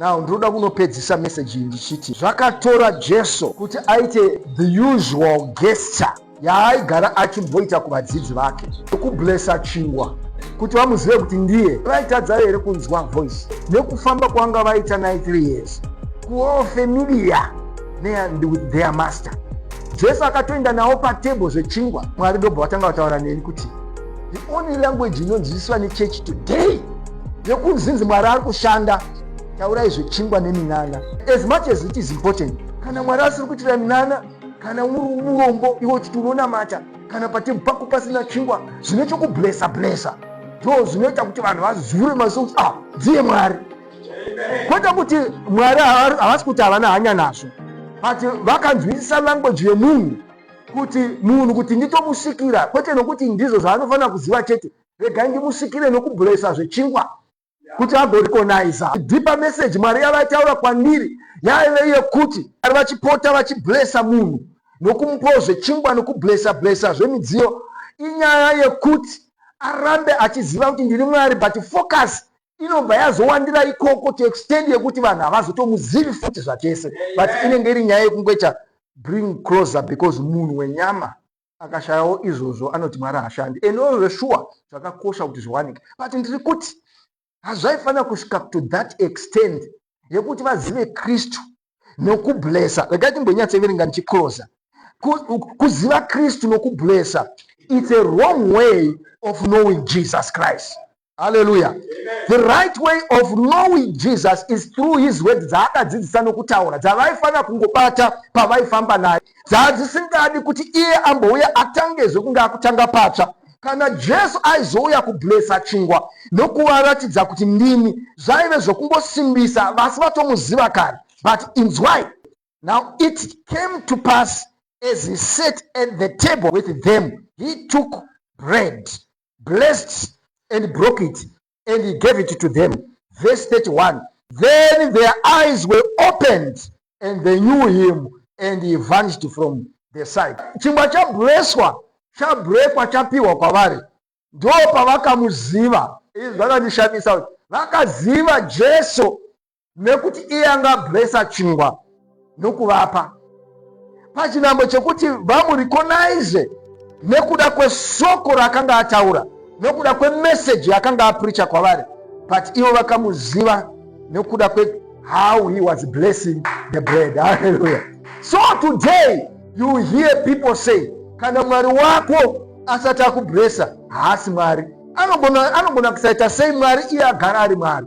now ndinoda kunopedzisa meseji ndichiti zvakatora jesu kuti aite the usual gesture yaaigara achimboita kuvadzidzi vake ekublesa chingwa kuti vamuzive kuti ndiye vaitadza here kunzwa voice nekufamba kwanga vaita 93 years kuwo familia neand with their master jesu akatoenda navo patable zvechingwa mwari dobva vatanga vataura neni kuti the only language inonzwisiswa nechurch today yekunzinzi mwari ari kushanda taurai zvechingwa neminana as much as it is important kana mwari asiri kuitira minana kana uri urombo iwe uchiti unonamata kana patebhu pako pasina chingwa zvine chokublesa blesa ndo zvinoita kuti vanhu vazure maziso kuti ah dziye mwari kwete kuti mwari havasi kuti havana hanya nazvo but vakanzwisisa language yemunhu kuti munhu kuti nditomusvikira kwete nokuti ndizvo zvaanofanira kuziva chete regai ndimusvikire nokublesa zvechingwa kuti agorikonaiza dhipa meseji mwari yavaitaura kwandiri yaive yekuti ari vachipota vachiblesa munhu nokumupawo zvechingwa nokublesa blesa zvemidziyo inyaya yekuti arambe achiziva kuti ndiri mwari but focus inobva yazowandira ikoko to extend yekuti vanhu havazotomuzivi futi zvachese but inenge iri nyaya yekungoita bring closer because munhu wenyama akashayawo izvozvo anoti mwari hashandi and ozveshuwa zvakakosha kuti zviwanike but ndiri kuti hazvaifanira kusvika to that extend yekuti vazive kristu nokublesa regai timbonyatseverenga ndichicloser kuziva kristu nokublesa it's a wrong way of knowing jesus christ haleluya the right way of knowing jesus is through his word dzaakadzidzisa nokutaura dzavaifanira kungobata pavaifamba naye dzava dzisingadi kuti iye ambouya atangezve kunge akutanga patsva kana jesu aizouya kublesa chingwa nokuvaratidza kuti ndini zvaive zvokungosimbisa vasi vatomuziva kare but inzwai now it came to pass as he sat at the table with them he took bread blessed and broke it, and he gave it to them. Verse 31 Then their eyes were opened, and they knew him, and he vanished from their sight. Chingwa chableswa chabrekwa chapiwa kwavari, ndo pavakamuziva. Izvi zvakandishamisa kuti vakaziva Jesu nekuti iye anga ablessa chingwa nokuvapa pachinambo chekuti vamurecognize nekuda kwesoko raakanga ataura nokuda kwemeseji yaakanga apricha kwavari but ivo vakamuziva nokuda kwehow he was blessing the bread halleluya so today you hear people say kana mwari wako asati akubresa haasi mwari anogona kusaita sei mwari iye agara ari mwari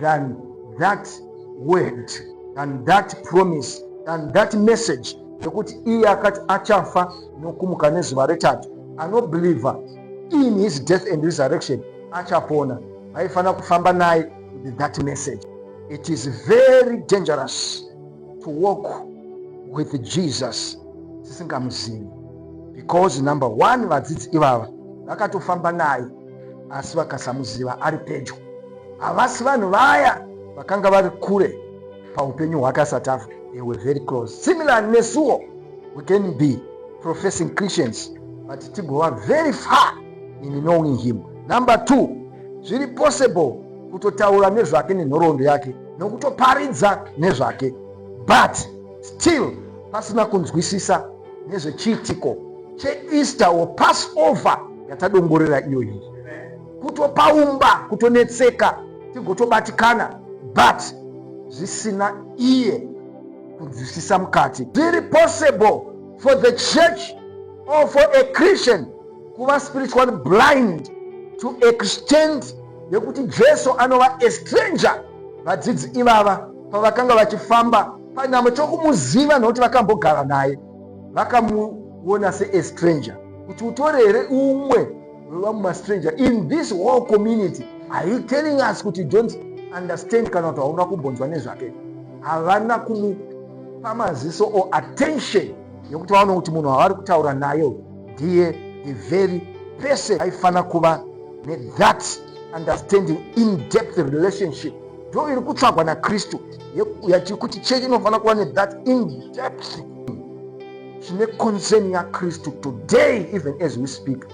than that word than that promise than that message yekuti iye akati achafa nokumuka nezuva retatu anobeliever in his death and resurrection achapona vaifanira kufamba naye with that message it is very dangerous to walk with jesus tisingamuzivi because number one vadzidzi ivava vakatofamba naye asi vakasamuziva ari pedyo. Havasi vanhu vaya vakanga vari kure paupenyu hwake asati afa. They were very close. Similar nesuwo, we can be professing Christians but tigova very far in knowing him. Number two, zviri possible kutotaura nezvake nenhoroondo yake nokutoparidza nezvake but still pasina kunzwisisa nezvechiitiko cheeaster or passover yatadongorera iyoyi kutopaumba kutonetseka tigotobatikana but zvisina iye kunzwisisa mukati zviri possible for the church or for a christian kuva spiritual blind to extend yekuti jesu anova estranger vadzidzi ivava pavakanga vachifamba panyama chokumuziva nokuti vakambogara naye vakamuona seestranger kuti utore here umwe unova mumastranger in this whole community are you telling us kuti don't understand kana kuti hauna kumbonzwa nezvake havana kumupa maziso or attention yekuti vaona kuti munhu wavari kutaura nayo ndiye the very person aifanira kuva nethat understanding in depth relationship ndo iri kutsvagwa nakristu yati kuti chechi inofanira kuva nethat indepth chine concern yakristu today even as we speak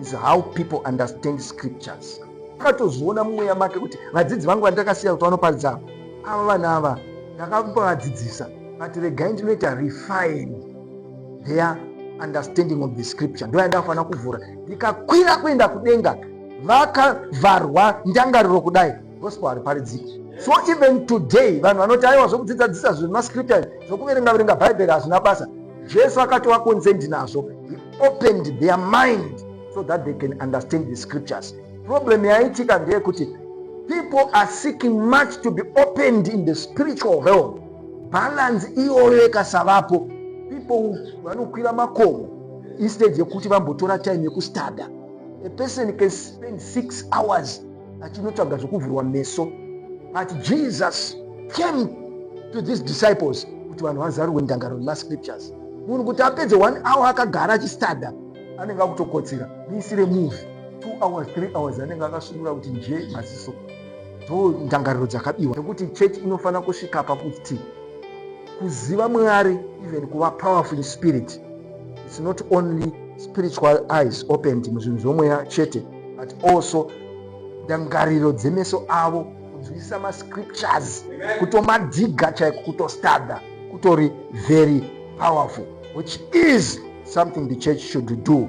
is how people understand scriptures akatozviona mumweya make kuti vadzidzi vangu vandakasiya kuti vanoparidza ava ava vana ava ndakambavadzidzisa but regai ndinoita refine their understanding of the scripture ndoya ndakafanira kuvhura ndikakwira kuenda kudenga vakavharwa ndangariro kudai gospel hariparidziki so even today vanhu vanoti aiwa zvokudzidzadzisa zvemascripture zvokuverenga verenga bhaibheri hazvina basa jesu akatova konzendi nazvo he opened their mind so that they can understand the scriptures problem yaitika ndeyekuti people are seeking much to be opened in the spiritual realm balance iyoyo ikasavapo people vanokwira makomo instead yekuti vambotora time yekustada a person can spend six hours achinotsvaga zvekuvhurwa meso but jesus came to these disciples kuti vanhu vazarurwe ndangaro nemascriptures munhu kuti apedze one hour akagara achistada anenge akutokotsira muisire move two hours three hours anenge akasunura kuti nje maziso ndo ndangariro dzakabiwa nekuti church inofanira kusvika pakuti kuziva mwari even kuva powerful in spirit its not only spiritual eyes opened muzvinhu zvomweya chete but also ndangariro dzemeso avo kunzwisisa mascriptures kutomadhiga chaiko kutostadha kutori very powerful which is something the church should do